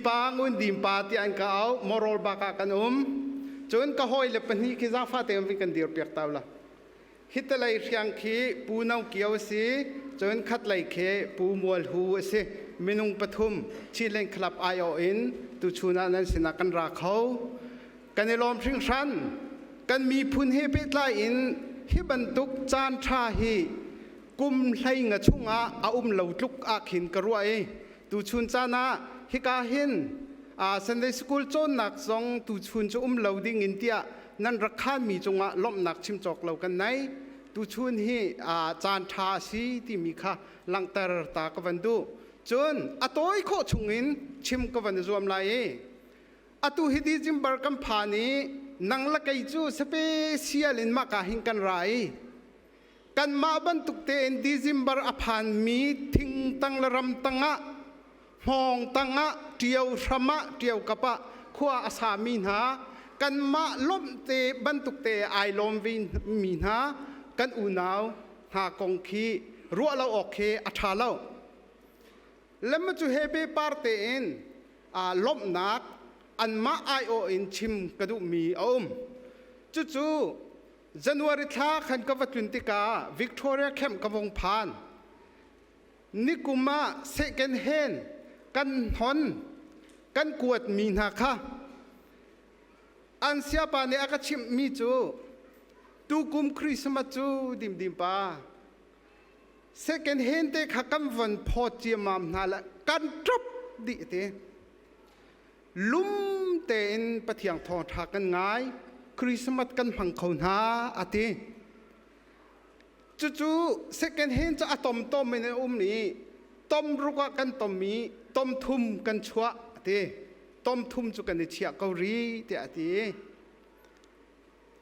Pa ngun dim pa tiah an ka au moral bak ah kan um cun ka hawi le pahnih khi zaangfate in kan dir piak ta la hitalei hriang khi pu no kio si cun khat lei khi pu mual hu si minung pathum Chinland Club IO in tu chuna nan sinah kan ra kho kan i lawm hring hran kan miphun he pehtlai in hi bantuk caan tha hi kum hlei nga chung ah a um lo tluk ah khin ka ruai Tuchun caan ah hika hin Sunday School cawnnak zong tuchun cu um lo ding in tiah nan rak khanmi cungah lawmhnak chim cawk lo kan nei. Tuchun hi caan ṭha a si timi kha langhter ta ka van duh. Cun a tawi khawh chungin chim ka van i zuam lai i atu hi ti Jimbar kan phan i nang la kei cu special in maka hin kan ra i Kanmah bantuk tein December a phanmi thingtang le ram tangah, hmawng tangah, ṭio hram ah, ṭio kap ah khua a sami hna, kanmah lawmh te bantuk te ai lawm vemi hna kan unau hna kong khi ruah lo awk hi a ṭha lo. Lemma cu he pe par tein aa lawmhnak anmah aiawh in chim ka duhmi a um. Cucu January thla khan ka va tlun tikah Victoria Camp ka vung phan. Nikum ah second hand kan hnon kan kuatmi hna kha an siapa nih a ka chimhmi cu tukum Christmas cu dimdim pa second hand te kha kan von phawt ciamam hna lah kan ṭop dih ti lumtein pathiang thawngṭha kan ngai Christmas kan hmang kho hna a ti cucu second hand cu a tom tom in a um i tom ruk ah kan tom i tom thum kan chuah a ti tom thum cu kan i chiah ko ri tiah a ti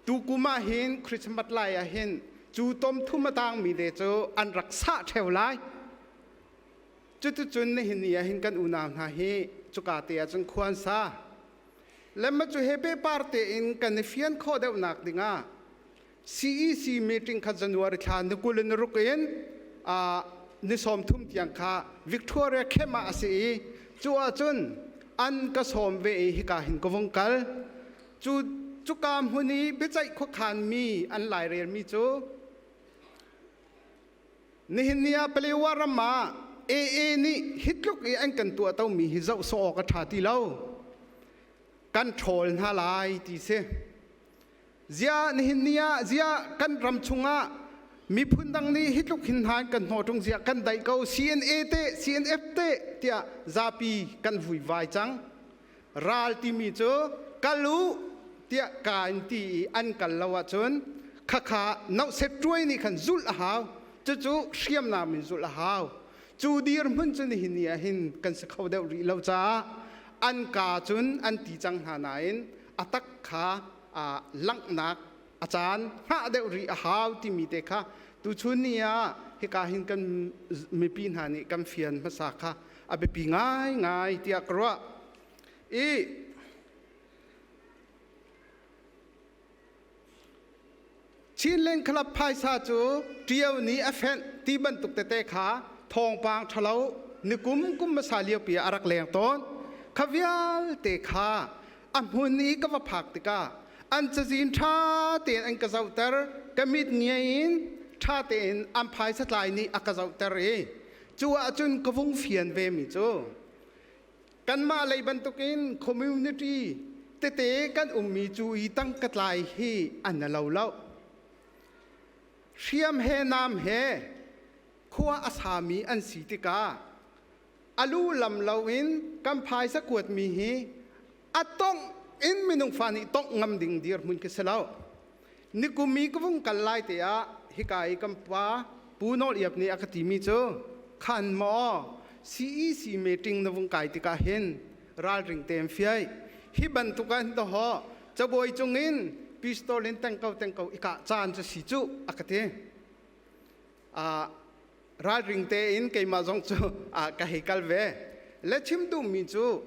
tukum ah hin Christmas lai ah hin cu tom thum a tangmi le cu an rak sah ṭheu lai Cuticun nihin ni ahhin kan unau hna hi cuka te ah cun khua an sa. Lemma cu he pehpar tein kan i fian khawh deuhnak dingah CEC meeting kha January thla ni kul in ruk in uh, ni sawm thum tiang kha Victoria Camp ah a si i cu ahcun an ka sawm ve i hika hin ka vung kal. Cu cuka hmun i biaceih khuakhan mi an lairelmi cu Nihin ni ah Palewa ram ah AA nih hi tluk i an kan tuahtomi hi zoh sawh awk a ṭha ti lo. Kan ṭhawl hna lai ti si. Ziah nihin ni ah ziah kan ram chungah miphun dang nih hi tluk hin hna kan hnaw ṭung ziah kan daih ko CNA teh CNF teh tiah zapi kan vui vai cang. ral timi cu kal u tiah ka in ti i an kal lo ahcun khakha nohset ṭuai nih khan zulh a hau cucu hriamnam in zulh a hau cu dirhmun cu nihin ni ah hin kan si kho deuh rih lo caah an ka cun an ti cang hna nain a tak kha aa langhnak a caan hngah deuh rih a hau timi te kha tuchun ni ah hika hin kan mipi hna nih kan fian hmasa kha a biapi ngaingai tiah ka ruah i Chinland Club phaisa cu ṭio ni a fenh ti bantuk tete kha thawngpang ṭhalo nikum kum hmasa liopi ah a rak leng tawn kha vialte kha a hmun i ka va phak tikah an cazin ṭha tein an ka zohter ka mit ngiai in ṭha tein an phaisa tlai nih a ka zohter i cu ahcun ka vung fian vemi cu kanmah lei bantukin community tete kan ummi cu i tangka tlai hi an na lo lo hriam he nam he khua a sami an si tikah a lu lam loin kan phaisa kuatmi hi a tongh in minung fa nih tongh ngam ding dir hmun khi si lo nikumi ka vung kal lai te ah hika i kan pa pu nol iap nih a ka timi cu khan maw CEC meeting na vung kai tikah hin ralring tem fiai hi bantuk an to ho cabuai cung in pistol in tengko tengko ika caan cu si cu a ka ti ralring tein keimah zong cu ka hei kal ve le chim duhmi cu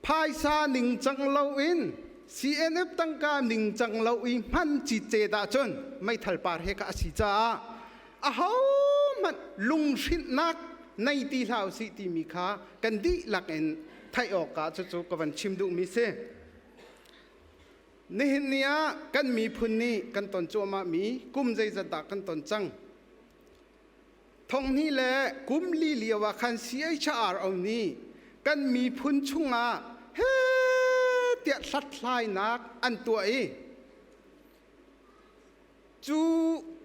phaisa ningcang loin CNF tangka ningcang lo i hman cite dah cun meithal par he ka asi caah ahohmanh lunghrinhnak nei ti hlah usih timi kha kan dihlak in theih awk ah cucu ka van chim duhmi si. Nihin ni ah kan miphun nih kan ton cuahmahmi kum zeizat dah kan ton cang. Thonghni le kum li lio ah khan CHRO nih kan miphun chungah he tiah hlathlainak an tuah i Cu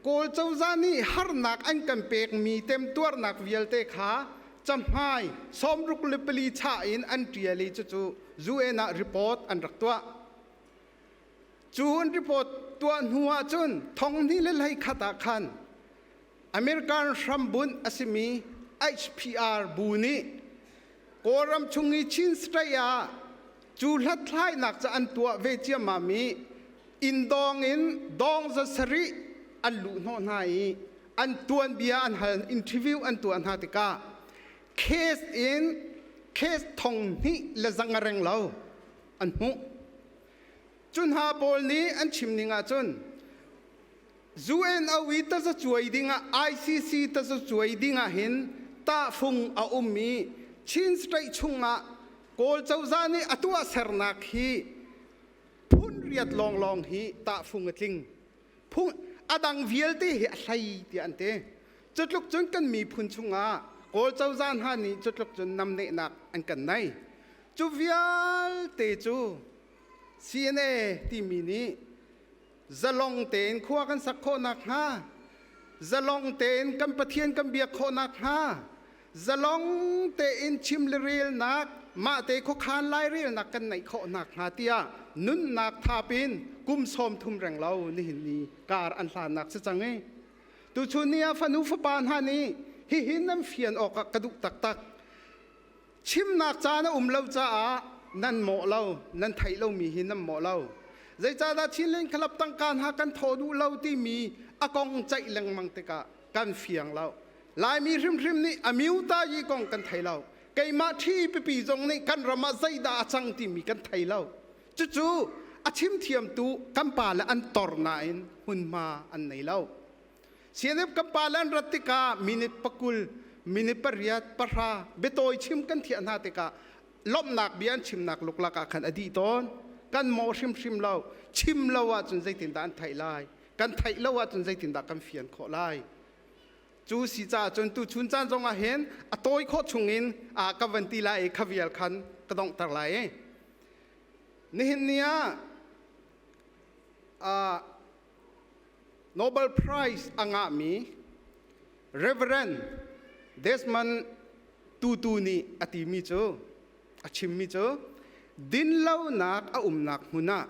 Kawl cozah nih harnak an kan pekmi temtuarnak vialte kha cahmai sawmruk le pali chah in an ṭial i cucu UN ah report an rak tuah. Cu an report tuah hnu ah cun thonghni le leikhat ah khan American hrambunh a simi HPR bu nih Kawlram chung i Chin State ah cu hlathlainak cu an tuah ve ciammam i inn dawng in dawng za sarih an luh hnawh hna i an tuanbia an hal, interview an tuah hna tikah case in case thong hnih le zang a reng lo an hmuh. Cu hna pawl nih an chim ning ahcun UNOI tazacuai dingah ICC tazacuai dingah hin tahfung a um i Chin State chungah Kawl cozah nih a tuahsernak hi phun riat lawnglawng hi tahfung a tling. Phung a dang vialte hi a hlei tiah an ti. Cutluk cun kan miphun chungah Kawl cozah hna nih cutluk cun namnehnak an kan nei. Cu vialte cu CNA timi nih zalong tein khua kan sak khawh nakhnga zalong tein kan pathian kan biak khawh nakhnga zalong tein chim le relnak mahte khuakhan lai relnak kan neih khawh nakhnga tiah nunnak thap in kum sawm thum reng lo nihin ni kar an hlannak si cang i tuchun ni ah fanu fapa hna nih hihin nan fian awk ah ka duh taktak Chimnak caan a um lo caah nan mawh lo, nan theih lomi hi nan mawh lo. Zeicahdah Chinland Club tangka hna kan thaw duh lo timi a kong ceih lengmang tikah kan fiang lo. Laimi hrimhrim nih a miutayi kong kan thei lo. Keimah ṭhi pipi zong nih kan ram ah zeidah a cang timi kan thei lo. Cucu a chim thiamtu kan pa le an tor nain hmunhma an nei lo. CNF kan pa le an rat tikah minute pakul, minute pariat, pahra biatawi chim kan thiah hna tikah lawmhnak bia an chimnak luklak ah khan a dih tawn. Kan mawh hrimhrim lo. Chim lo ahcun zeitindah an theih lai? Kan theih lo ahcun zeitindah kan fian khawh lai? Cu si caah cun tuchun caan zongah hin a tawi khawh chungin a ka van ti lai i ka vial khan ka donghter lai i nihin ni ah Nobel Prize a ngahmi Reverend Desmond Tutu nih a timi cu a chimmi cu dinlonak a umnak hmun ah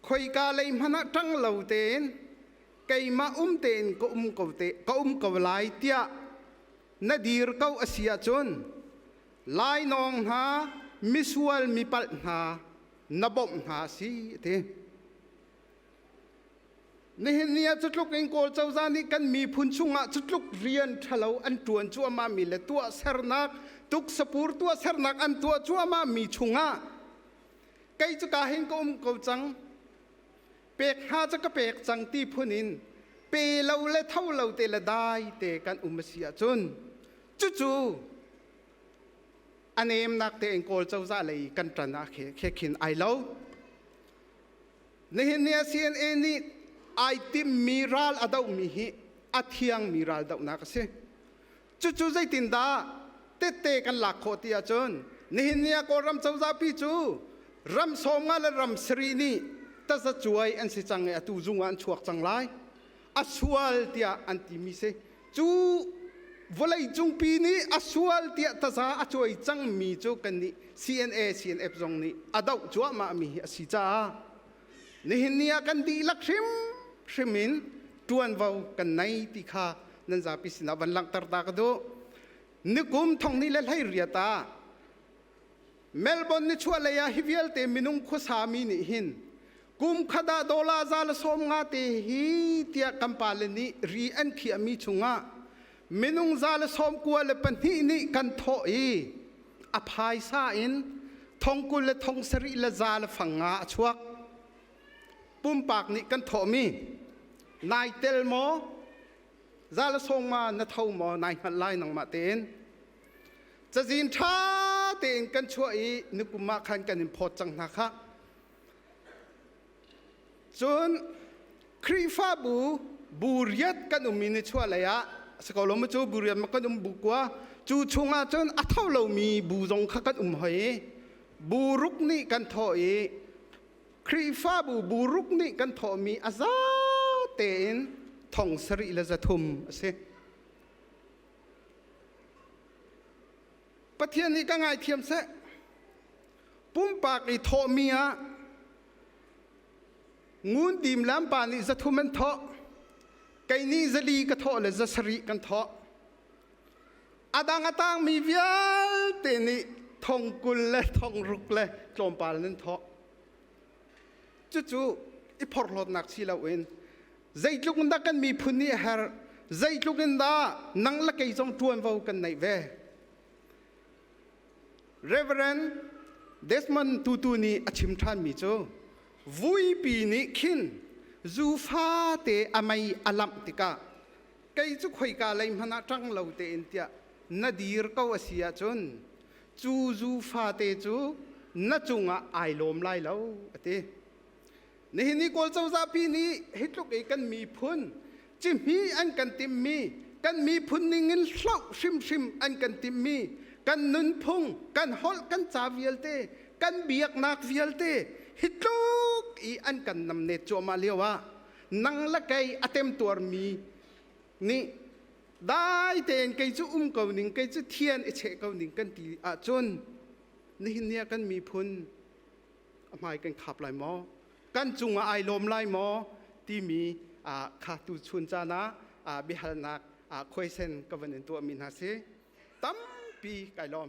khoika lei hmanh ah ṭang lo tein keimah um tein ka um ko te ka um ko lai tiah na dir ko a si ahcun lainawng hna misual mipalh hna na bawmh hna si a ti nihin ni ah cu tluk in kawl cozah nih kan miphun chungah cu tluk rian ṭhalo an ṭuan cuahmahmi le tuah sernak tuksapur tuah sernak an tuah cuahmahmi chungah kei cu ka hin ka um ko cang pek hna cu ka pek cang ti phun in pe lo le tho lo te le dai te kan um a si ahcun cucu a nemnak tein kawl cozah lei kan ṭan ah khe khin ai lo nihin ni a CNA nih ai timmi ral a dohmi hi a thiangmi ral dohnak a si cucu zeitindah tette kan lak khawh ti ahcun nihin ni a kawlram cozahpi cu ram sawmnga le ram sari nih tazacuai an si cang i atu zung ah an chuak cang lai a sual tiah an timi si Cu vawleicung pi nih a sual tiah taza a cuai cangmi cu kan nih CNA, CNF zong nih a doh cuahmahmi hi a si caah nihin ni ah kan dihlak hrimhrim in ṭuanvo kan nei ti kha nan zapi sinah van langhter ta ka duh. Nikum thongni le hleiriat ah Melbourne nichuahlei ah hi vialte minung khuasami nih hin kum khat ah dollar za le sawm nga te hi tiah kan pale nih ri an khiahmi chungah minung za le sawm kua le pahnih nih kan thawh i a phaisa in thong kul le thong sarih le za le fang nga a chuak pumpak nih kan thawhmi nai tel maw za le sawm nga na tho maw nai hngalh lai nangmah tein Cazin ṭha tein kan chuah i nikum ah khan kan in phawt cang hna khah. Cun Khrihfabu bu riat kan um i ni chuah lei ah si ko lo mu cu bu riat ma kan um bu kua cu chung ah cun a tho lomi bu zong kha kan um hoi i bu ruk nih kan thawh i Khrihfabu bu ruk nih kan thawhmi a za tein thong sarih le zathum a si. Pathian nih ka ngaithiam seh. Pumpak i thawhmi ah ngun dim lampa nih zathum an thawh. Kei nih zali ka thawh le zasarih kan thawh. Adang a tangmi vialte nih thong kul le thong ruk le tlawmpal nan thawh. Cucu i phorhlawtnak si loin Zeitluk in dah kan miphun nih a herh, zeitluk in dah nang le kei zong ṭuanvo kan neih ve. Reverend Desmond Tutu nih a chim ṭhanmi cu vuipi nih khin zufate a mei a lamh tikah kei cu khoika lei hmanh ah ṭang lo tein tiah na dir ko a si ahcun cu zufate cu na cungah ai lawm lai lo a ti. Nihin i Kawl cozah pi nih hi tluk i kan miphun cihmih an kan timhmi, kan miphun ningin hloh hrimhrim an kan timhmi, kan nunphung, kan holh, kan ca vialte, kan biaknak vialte hi tluk i an kan namnet cuahmah lio ah nang le kei a temtuarmi nih dai tein kei cu um ko ning, kei cu thian i cheh ko ning kan ti ahcun nihin ni ah kan miphun a hmai kan khap lai maw kan cungah ai lawm lai maw timi kha tu chun caan ah biahalnak khoisen ka van in tuahmi hna si tampi kai lawm